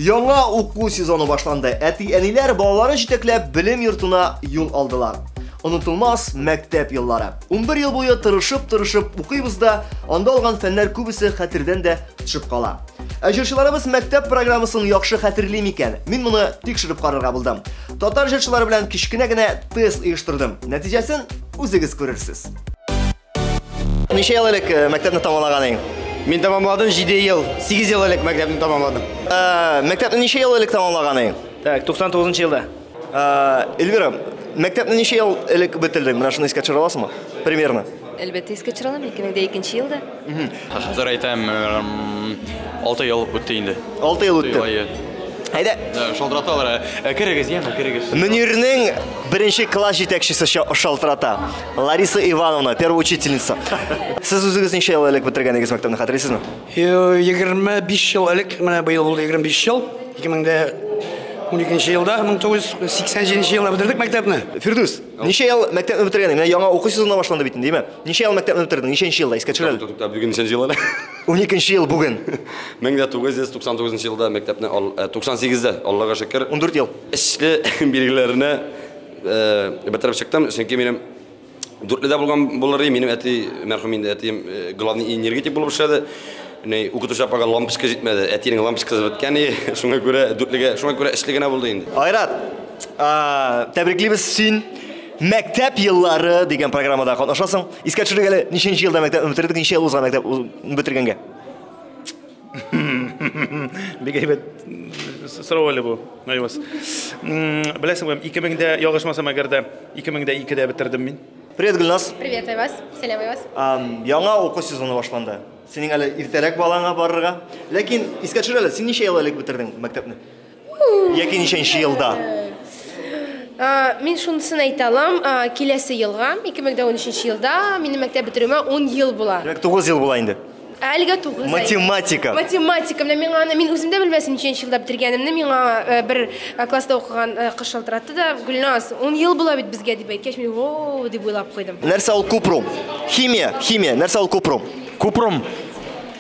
Яңа уку сезоны башланды. Әти-әниләр балаларын җитәкләп белем йортына юл алдылар. Онытылмас мәктәп еллары. 11 ел буе тырышып-тырышып укыйбыз да, анда алган фәннәр күбесе хәтердән дә төшеп кала. Ә җырчыларыбыз мәктәп программасын яхшы хәтерли микән? Мин моны тикшереп карарга булдым. Татар җырчылары белән кечкенә генә тест оештырдым. Нәтиҗәсен үзегез күрерсез. Ничә ел элек э, мәктәпне тамамлаганың? Мин тамамладым 7 ел, 8 ел элек мәктәпне тамамладым. Э, Мәктәпне ничә ел элек тамамлаганың? Так, 99 елда. Э, Эльвира, мәктәпне ничә ел элек бетердең? Менә шуны искә төшерә аласыңмы? Примерно. Әлбәттә, искә төшерә алам, 2002 елда. Хәзер әйтәм, 6 ел үтте инде. 6 ел үтте. Ай, Әйдә, э, Шалтыраталар. Э, Керегез, яме, керегез. Мөнирнең беренче класс җитәкчесе ша- шалтырата. Лариса Ивановна, первая учительница. Сез үзегез ничә ел элек бетергәнегез мәктәпне хәтерлисезме? 25 ел элек, менә быел булды 25 ел. 2012 елда, 1987 елда бетердек мәктәпне. Фирдүс, ничә ел мәктәпне бетергәнең? Менә яңа уку сезоны башланды бит инде, димә. Ничә ел мәктәпне бетердең? Ничәнче елда? Искә төшерәле. Тукта, бүген ничәнче ел әле? 12 ел бүген. 1999 елда мәктәпне, 98 дә, Аллага шөкер. 14 ел. Эшле билгеләренә Бетереп чыктым, чөнки минем дүртледә булган булыр идем, минем әти, мәрхүм инде әтием, главный энергетик булып эшләде. Ни, укытучы апага лампочка җитмәде, әтинең лампочкасы беткән и, шуңа күрә дүртлегә, шуңа күрә эшле генә булды инде. Айрат, тәбриклибез син Мәктәп еллары дигән программада катнашасың. Искә төшерик әле, ничәнче елда мәктәп бетергән, ничә ел узган мәктәп бетергәнгә? Бик әйбәт сорау әле бу, Айваз. Беләсеңме, 2000-дә ялгышмасам әгәр дә 2002-дә бетердем мин. Привет, Гүлназ. Привет, Айваз. Сәлам, Айваз. Яңа уку сезоны башланды. Синең әле иртәрәк балаңа барырга. Ләкин искә төшер әле, син ничә ел элек бетердең мәктәпне? Яки ничәнче елда? Мин шунысын әйтә алам, киләсе елга, 2013 елда минем мәктәп бетерүемә 10 ел була. Димәк, 9 ел була инде. Әлегә 9 Математика. Математика менә миңа аны мин үзем дә белмәсем ничәнче елда бетергәнемне миңа э, бер э, класста укыган э, кыз шалтыратты да Гөлназ, 10 ел була бит безгә дип әйткәч мин о дип уйлап куйдым. Нәрсә ул купрум? Химия, химия. Нәрсә ул купрум? Купрум.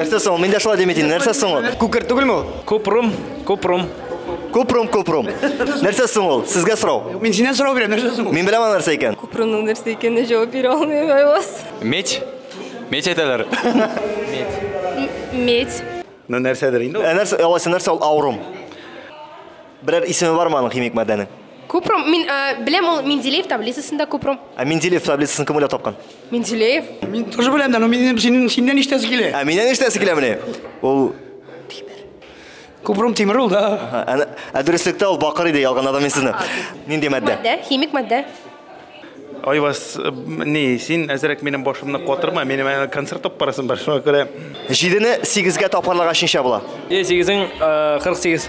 Нәрсә соң? Мин дә шулай дим идем. Нәрсә соң ул? Күкер түгелме ул? Купрум, купрум. Купрум, купрум. Нәрсә соң ул? Сезгә сорау. Мин синнән сорау бирәм, нәрсә соң ул? Мин беләм аны нәрсә икән. Купрумның нәрсә икәненә җавап бирә алмыйм, Айваз. Медь? Медь әйтәләр. Медь. Ну нәрсәдер инде ул. Ә нәрсә, алайса нәрсә ул аурум? Берәр исеме бармы аның химик матдәнең? Купрум, мин э, беләм ул Менделеев таблицасында купрум. Ә Менделеев таблицасын кем уйлап тапкан? Менделеев. Мин тоже беләм дә, но минем синен синнән иштәсе килә. Ә миннән иштәсе килә менә. Ул Купрум тимер ул да. Ә, ә дөреслектә ул бакыр иде, ялганадым мин сезне. Нинди матдә? Матдә, химик матдә. Айвас, э, ни, син әзрәк минем башымны катырма, минем әле концерт алып барасым бар, шуңа күрә Җидене сигезгә тапкарларга чинча була. Е, сигезең, э, 48.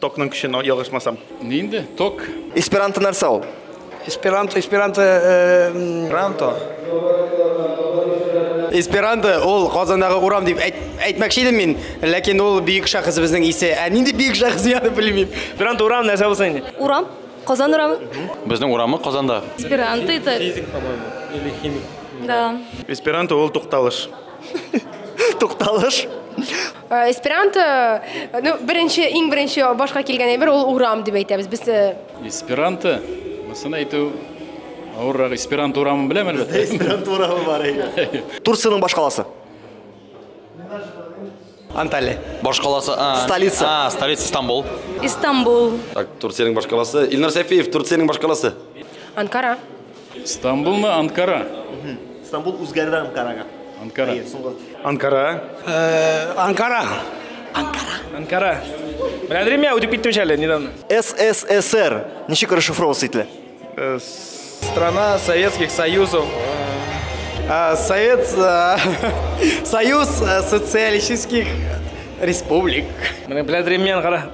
Токның көче, но ялгышмасам. Ни инде? Ток. Эсперанто нәрсә ул? Эсперанто, эсперанто, эсперанто. Эсперанто ул Казандагы урам дип әйт, әйтмәкче идем мин, ләкин ул бөек шәхесебезнең исе. Ә нинди бөек шәхес яны белмим. Эсперанто урам нәрсә булсын инде? Урам, Казан урамы. Безнең урамы Казанда. Эсперанто это. Физик, по-моему, или химик. Да. Эсперанто ул тукталыш. Тукталыш. Э, эсперанто э, ну беренче иң беренче башка килгән әйбер ул урам дип әйтәбез без э, эсперанто монысын әйтү авыррак эсперанто урамын беләм әлбәттә эсперанто урамы бар әйе турцияның башкаласы Анталия. Башкаласы. Столица. А, столица Стамбул. Истанбул. Так, Турциянең башкаласы. Илнар Сәфиев, Турциянең башкаласы. Анкара. Стамбул мы Анкара? Стамбул үзгәрде Анкарага. Анкара. Анкара. Э, Анкара. Анкара. Анкара. Беләдер мия үтеп киттем әле недавно. СССР. Ничек расшифровываться ителә? Э, страна Советских Союзов. Э, Совет... Союз социалистических республик. Менә беләдер мия Анкара.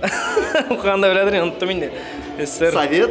Укыганда беләдер, оныттым инде. Совет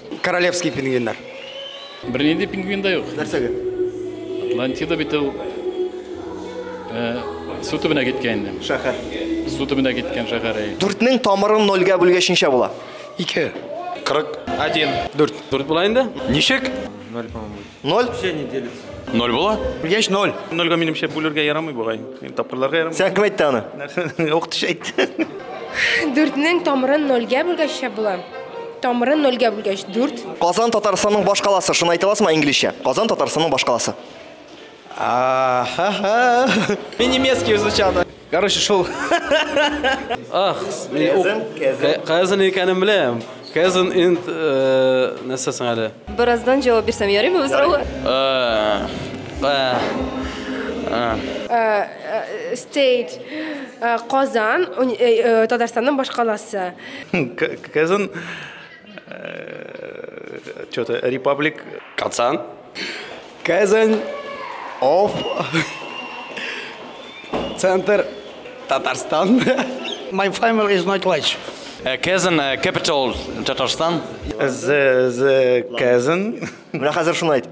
Королевский пингвиннар. Бернинди пингвин да юк. Нәрсәгә? Атлантида бит ул э, су төбенә киткән инде. Шәһәр. Су төбенә киткән шәһәр. әй. Дүртнең тамырын нольгә бүлгәч ничә була? Ике. Кырык. Один. Дүрт. Дүрт була инде. Ничек? Ноль, по-моему. Ноль? Все не делится. Ноль була? Яшь ноль. Нольга минемчә бүлергә ярамый бугай. Тапкырларга ярамый. Сән кем әйтте аны? Укытучы әйтте. Дүртнең тамырын нольгә бүлгәччә була. Тамырын нольгә бүлгәч дүрт. Казан Татарстанның баш каласы. Шуны әйтә аласызмы инглизчә? Казан Татарстанның баш каласы. Ахаха. Немецкий звучало. Короче, шул. Ах, кызын икәнен беләм. Кызын инт э, нәрсә соң әле? Бераздан җавап бирсәм ярыймы бу сорауга? Э, э, Стейт Казан, Татарстанның башкаласы. Кызын Что-то Репаблик. Казан. Казань. Оф. Центр. Татарстан. My family is not large. Э, Казан, э, capital Татарстан. The, the Казан. Менә хәзер шуны айт.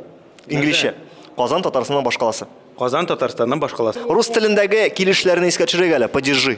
Инглизчә. Казан Татарстанның башкаласы. Казан Татарстанның башкаласы. Рус телендәге килешләрне искә төшерегә әле. Падежи.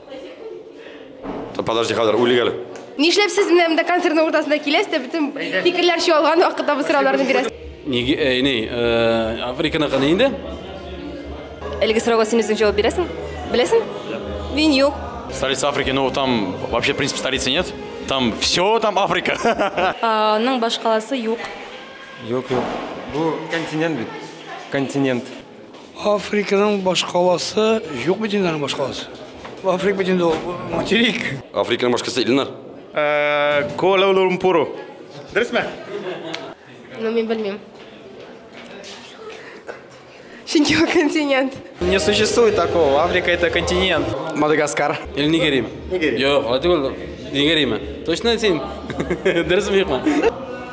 Подожди, хәзер үлик әле. Нишләп сез менә монда концертның уртасында киләсез дә бөтен фикерләр чуалган вакытта бу сорауларны бирәсез? Неге, әй, ни, э, Африканы кыны инде. Әлеге сорауга син үзең җавап бирәсең? Беләсең? Мин юк. Столица Африки, ну там вообще, в принципе, столицы нет. Там все там Африка. А, Аның башкаласы юк. Юк, юк. Бу континент бит. Континент. Африканың башкаласы юк бит инде аның башкаласы. Африка бит инде ул материк. Африканың башкасы Илнар. Куала-Лумпуру. Дөресме? Ну, мин белмим. Чөнки ул континент. Не существует такого. Африка это континент. Мадагаскар. Или Нигерия. Нигерия. Юк, алай түгел. Нигерияме? Точно син? Дөресме юкмы?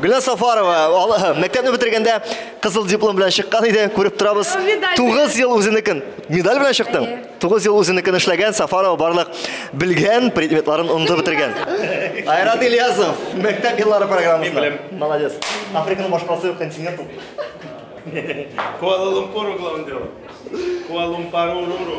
Гөлназ Сафарова мәктәпне бетергәндә кызыл диплом белән чыккан иде, күреп торабыз. 9 ел үзенекен медаль белән чыктың. 9 ел үзенекен эшләгән Сафарова барлык белгән предметларын онды бетергән. Айрат Ильясов, мәктәп еллары программасында. Молодец. Африканың башкасы юк континент ул. Куала-Лумпур углом дело. Куала-Лумпару-ру-ру.